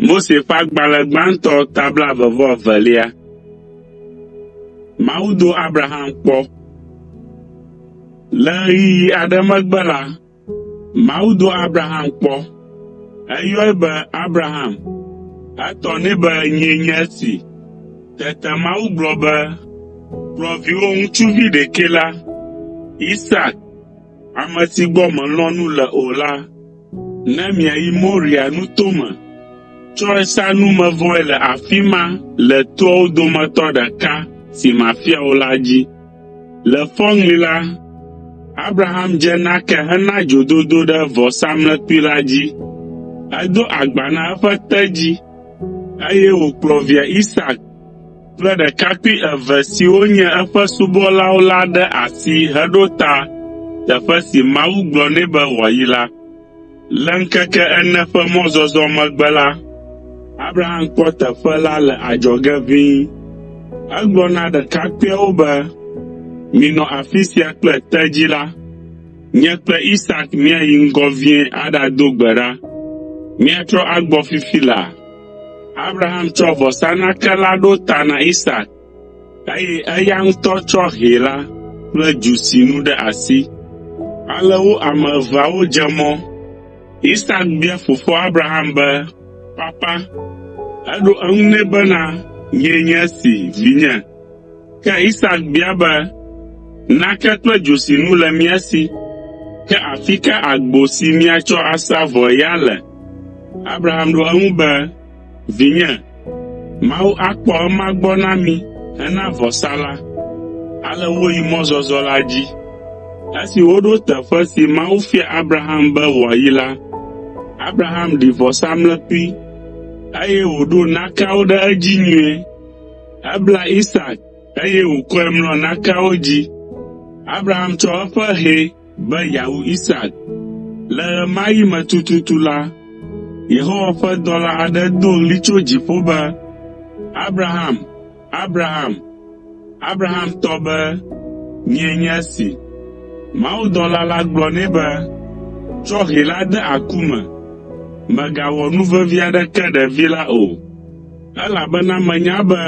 Mose ƒe agbalẽ gbãtɔ ta blaeve-vɔ-evelia. Mawu do Abraham kpɔ. Le ɣeyiɣi aɖe megbe la, Mawu do Abraham kpɔ. Eyɔe be Abraham. Etɔ nɛ be nyee nye esi. Tete Mawu gblɔ be, ‘Kplɔ viwò ŋutsuvi ɖekɛ la, Isak, ame si gbɔ mèlɔ̃ nu le o la, ne miayi Moria nuto me. Tsɔe sa numevɔe le afi ma le toawo dometɔ ɖeka si mafia wò la dzi.’ Le fɔŋli la, Abraham dze nake hena dzododo ɖe vɔsamlekpui la dzi. Edo agba na eƒe tedzi, eye wòkplɔ via Isak kple ɖekakpui eve siwo nye eƒe subɔlawo la ɖe asi heɖo ta teƒe si Mawu gblɔ nɛ be wòayi la. Le ŋkeke ene ƒe mɔzɔzɔ megbe la, Abraham kpɔ teƒe la le adzɔge ʋĩi. Egblɔ na ɖekakpuiawo be, Minɔ afi sia kple tedzi la. Nye kple Isak míayi ŋgɔ vie aɖado gbe ɖa. Míatrɔ agbɔ fifi laa. Abraham tsɔ vɔsanake la ɖo ta na Isak, eye eya ŋutɔ tsɔ hɛ la kple dzosinu ɖe asi. Ale wo ame eveawo dze mɔ. Isak bia fofoa Abraham be, “Papa?” Eɖo eŋu nɛ bena, “Nyee nye esi, vinye.” Ke Isak bia be, “Nake kple dzosinu le mía si, ke afi ka agbo si míatsɔ asa vɔe ya le?” Abraham ɖo eŋu be, Vinye, Mawu akpɔ ema gbɔ na mi hena vɔsa la. Ale woyi mɔzɔzɔ la dzi. Esi woɖo teƒe si Mawu fia Abraham be wòayi la, Abraham ɖi vɔsamlekpui, eye wòɖo nakeawo ɖe edzi nyuie. Ebla Isak, eye wòkɔe mlɔ nakeawo dzi. Abraham tsɔ eƒe hɛ, be yeawu Isak. Le ɣemaɣi me tututu la, Yehowa ƒe dɔla aɖe do ɣli tso dziƒo be, “Abraham! Abraham!” Abraham tɔ be, “Nyee nye esi.” Mawudɔla la gblɔ nɛ be, “Tsɔ hɛ la de aku me. Mègawɔ nu vevi aɖeke ɖevi la o, elabena menya be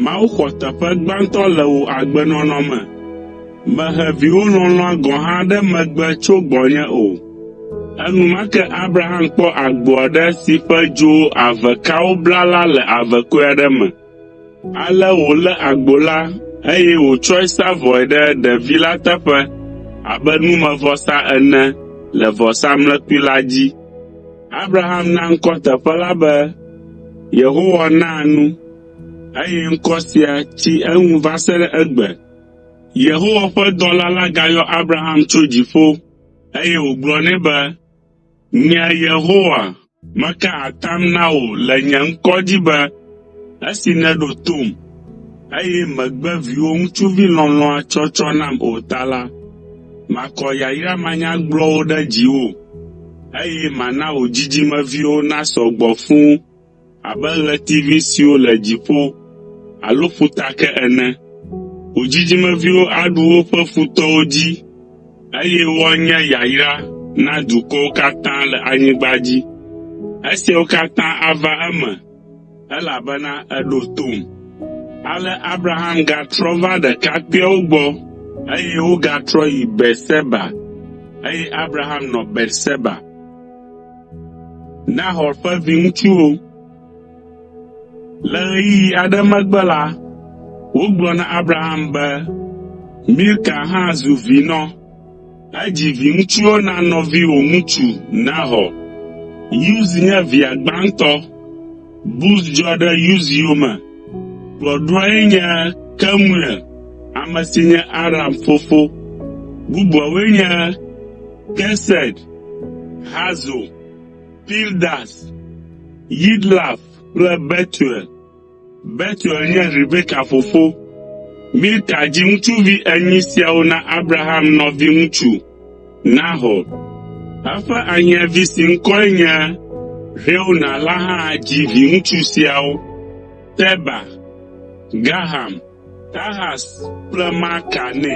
Mawu xɔ teƒe gbãtɔ le wò agbenɔnɔ me. Mehe viwò lɔlɔ̃a gɔ̃ hã ɖe megbe tso gbɔnye o.” Enumake Abraham kpɔ agbo aɖe si ƒe dzo ave kawo bla la le avekɔe aɖe me. Ale wòlé agbo la, eye wòtsɔe sa vɔe ɖe ɖevi la teƒe abe numevɔsa ene le vɔsamlekpui la dzi. Abraham na ŋkɔ teƒe la be, “Yehowa Naa Nu,” eye ŋkɔ sia tsi eŋu va se ɖe egbe. Yehowa ƒe dɔla la gayɔ Abraham tso dziƒo, eye wògblɔ nɛ be, “Nye Yehowa, meka atam na wò le nye ŋkɔ dzi be, esi nèɖo tom, eye mègbe viwò ŋutsuvi lɔlɔ̃a tsɔtsɔ nam o ta la, makɔ yayra manyagblɔwo ɖe dziwò, eye mana wò dzidzimeviwo nasɔ gbɔ fũu.” Abe ɣletivi siwo le dziƒo alo ƒuta ke ene. Wò dzidzimeviwo aɖu woƒe futɔwo dzi, eye woanye yayra na dukɔwo katã le anyigba dzi. Esiawo katã ava eme, elabena èɖo tom.” Ale Abraham gatrɔ va ɖekakpuiawo gbɔ, eye wogatrɔ yi Beerseba, eye Abraham nɔ Beerseba. Nahor ƒe viŋutsuwo. Le ɣeyiɣi aɖe megbe la, wogblɔ na Abraham be Milka hã zu vinɔ. Edzi viŋutsuwo na nɔviwò ŋutsu Nahor. Uz nye via gbãtɔ. Buz dzɔ ɖe Uz yome. Kplɔɖoae nye Kemuel, ame si nye Aram fofo. Bubuawoe nye Kesed, Hazo, Pildas, Yidlaf kple Betuel. Betuel nye Rebeka fofo. Milka dzi ŋutsuvi enyi siawo na Abraham nɔviŋutsu, Nahor. Eƒe ahiãvi si ŋkɔe nye Reuena la hã dzi viŋutsu siawo, Teba, Gaham, Tahas kple Maaka nɛ.